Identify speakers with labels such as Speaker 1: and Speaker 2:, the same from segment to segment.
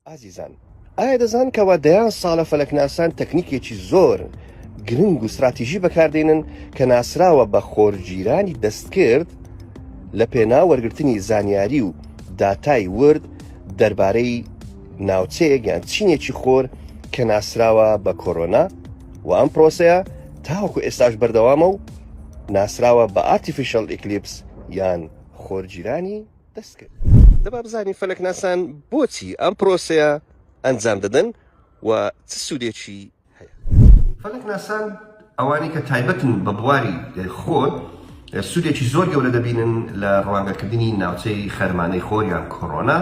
Speaker 1: ئازیزان ئایا دەزان کەوا دەیان ساڵە فەلەکناسان تەکنیکێکی زۆر گرنگ و استراتیژی بەکاردێنن کە ناسراوە بە خۆرگیرانی دەستکرد لە پێنا وەرگرتنی زانیاری و داتای ورد دەربارەی ناوچەیەک یان چینێکی خۆر کە ناسراوە بە کۆرۆنا و ئەم پرۆسەیە تاوەکو ئێستاش بەردەوامە و ناسراوە بە ئارتیفیشل ئیکلیپس یان خۆرگیرانی دەست کرد دەبا بزانین فەلەکناسان بۆچی ئەم پرۆسەیە ئەنجام دەدەن و چ سوودێکی فەلەکناسان ئەوانەی کە تایبەتن بە بواری خۆر سوودێکی زۆر گەورە دەبینن لە ڕوانگەکردنی ناوچەی خەرمانەی خۆر یان کۆرۆنا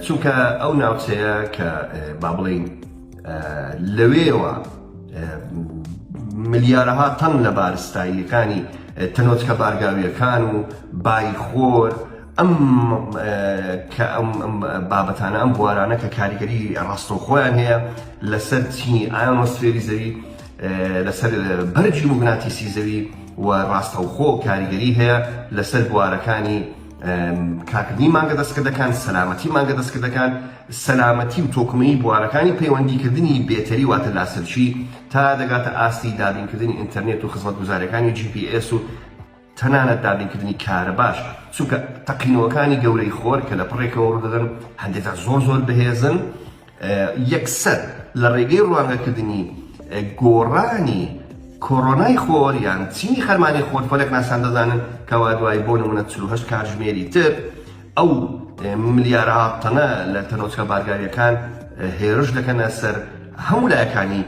Speaker 1: چونکە ئەو ناوچەیە کە با بڵێین لەوێوە ملیارەها تەن لە بارستاییەکانی تەنۆچکە بارگاویەکان و بای خۆر ئەم کە ئەم بابەتانە ئەم بوارانە کە کاریگەری ڕاستەوخۆیان هەیە لەسەر چینی ئایۆنۆسفێری زەوی لەسەر بەرجی موگناتیسی زەوی و ڕاستەوخۆ کاریگەری هەیە لەسەر بوارەکانی کاکردنی مانگە دەستکردەکان سەلامەتی مانگە دەستکردەکان سەلامەتی و تۆکمەیی بوارەکانی پەیوەندیکردنی بێتەری واتە لاسەرچی تا دەگاتە ئاستی دابینکردنی ئینتەرنێت و خزمەتگوزاریەکانی جی پی ئێس و تەنانەت دابینکردنی کارەباش چونکە تەقینەوەکانی گەورەی خۆر کە لە پڕێکەوە ڕوودەدەن هەندێکجار زۆر زۆر بەهێزن یەکسەر لە ڕێگەی ڕوانگەکردنی گۆڕانی کۆرۆنای خۆر یان چینی خەرمانی خۆر فەلەکناسان دەزانن کەوا دوای بۆ نمونە چل و هەشت کاتژمێری تر ئەو ملیارەها تەنە لە تەنۆچکە بارگاویەکان هێرش دەکەنە سەر هەموو لایەکانی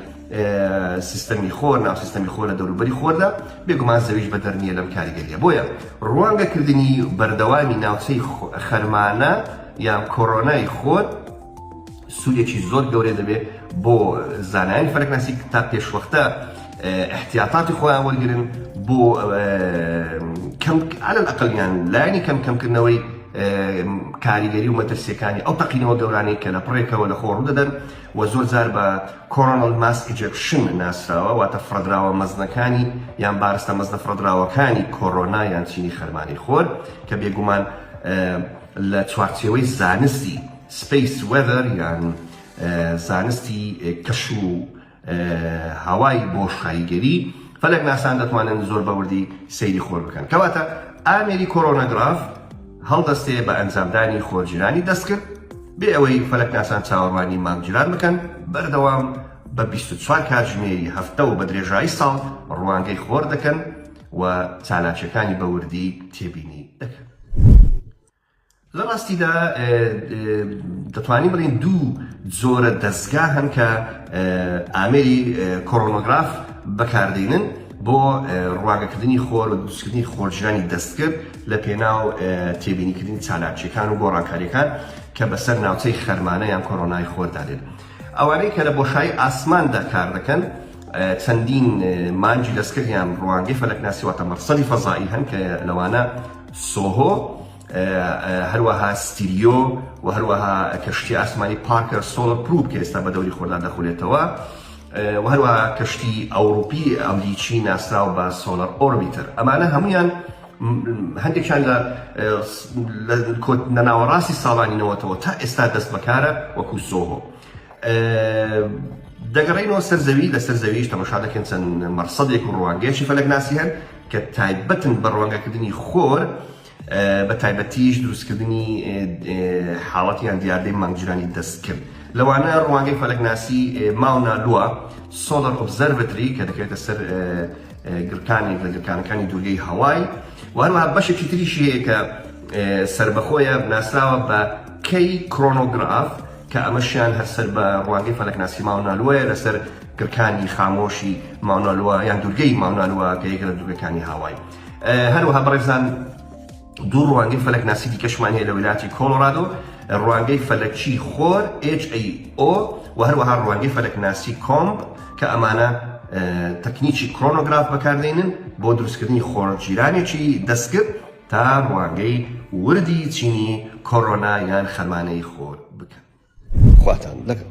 Speaker 1: سیستەمی خۆر ناو سیستەمی خۆر لە دەوروبەری خۆردا بێگومان زەویش بەدەر نییە لەم کاریگەریە بۆیە ڕوانگەکردنی بەردەوامی ناوچەی خەرمانە یان کۆرۆنای خۆر سوودێکی زۆر گەورەی دەبێت بۆ زانایانی فەلەکناسی تا پێشوەختە احتیاطاتی خۆیان وەرگن بۆ کەم على الاقل یان لایەنی کەم کەمکردنەوەی کاریگەری و مەترسیەکانی ئەو تەقینەوە گەورانەی کە لە پڕێکەوە لە خۆڕ دەدەن و زۆر جار بە کۆرۆنل ماس ئیجپشن ناسراوە واتە فرەدراوە مەزنەکانی یان بارستە مەزنە فرەدراوەکانی کۆرۆنا یان چینی خەرمانی خۆر کە بێگومان لە چوارچێوەی زانستی Space Weather یان زانستی کەش و هەوای بۆشاییگەری، فەلەکناسان دەتوانن زۆر بە وردی سەیری خۆر بکەن. کەواتە ئامێری کۆرۆنەگراف هەڵدەستێ بە ئەنجامدانی خۆرگیرانی دەستکرد، بێ ئەوەی فەلەکناسان چاوەڕوانی مانگگیران بکەن، بەردەوام بە بیست و چوار کاتژمێری هەفتە و بە درێژایی ساڵ ڕوانگەی خۆر دەکەن و چالاکییەکانی بە وردی تێبینی دەکەن. لە ڕاستیدا دەتوانین بڵین دوو جۆرە دەستگا هەن کە ئامێری کۆرۆنۆگراف بەکاردێنن بۆ ڕواگەکردنی خۆر و دوستکردنی خۆرژانی دەستکرد لە پێناو تێبینیکردنی چالاکیەکان و گۆڕانکاریەکان کە بەسەر ناوچەی خەرمانە یان کۆرۆنای خۆردادێن ئەوانەی کە لە بۆشایی ئاسماندا کار دەکەن چەندین مانگی دەستکرد یان ڕوانگەی فەلەکناسی واتە مەڕسەدی فەزایی هەن کە لەوانە سۆهۆ هەروەها ستیریۆ و هەروەها کەشتی ئاسمانی پارکەر سۆڵەر پروپ کە ئێستا بە دەوری خۆردا دەخولێتەوە و هەروە کەشتی ئەوروپی ئەمریکی ناسراو بە سۆلەر ئۆرمیتر ئەمانە هەمویان هەندێکیان لە نەناوەڕاستی ساڵانی نەوەتەوە تا ئێستا دەست بەکارە وەکو سۆهۆ دەگەڕێینەوە سەر زەوی، لەسەر زەویش تەمەشا دەکەین چەند مەرصەدێک و ڕوانگەیەکی فەلەکناسی هەن کە تایبەتن بە ڕوانگەکردنی خۆر، بە تایبەتیش دروستکردنی حاڵەت یان دیاردەی مانگگیرانی دەستکرد. لەوانە ڕوانگەی فەلەکناسی ماونا لوا، Solar Observatory، کە دەکەوێتە سەر گڕکانێک لە گڕکانەکانی دوورگەی هاوای و هەروەها بەشێکی تریشی هەیە کە سەربەخۆیە، ناسراوە بە K Chronograph، کە ئەمەشیان هەر سەر بە ڕوانگەی فەلەکناسی ماونا لوایە لەسەر گڕکانی خامۆشی ماونا لوا یان دوورگەی ماونا لوا کە یەکە لە دوورگەکانی هاوای هەروەها بەڕێزان دوو ڕوانگەی فەلەکناسی دیکەشمان هەیە لە ویلاتی کۆلۆرادۆ ڕوانگەی فەلەکی خۆر HAO و هەروەها ڕوانگەی فەلەکناسی کۆمب کە ئەمانە تەکنیکی کرۆنۆگراف بەکاردێنن بۆ دروستکردنی خۆرجیرانێکی دەستکرد تا ڕوانگەی وردی چینی کۆرۆنا یان خەمانەی خۆر بکەن. خواتان لەگەڵ.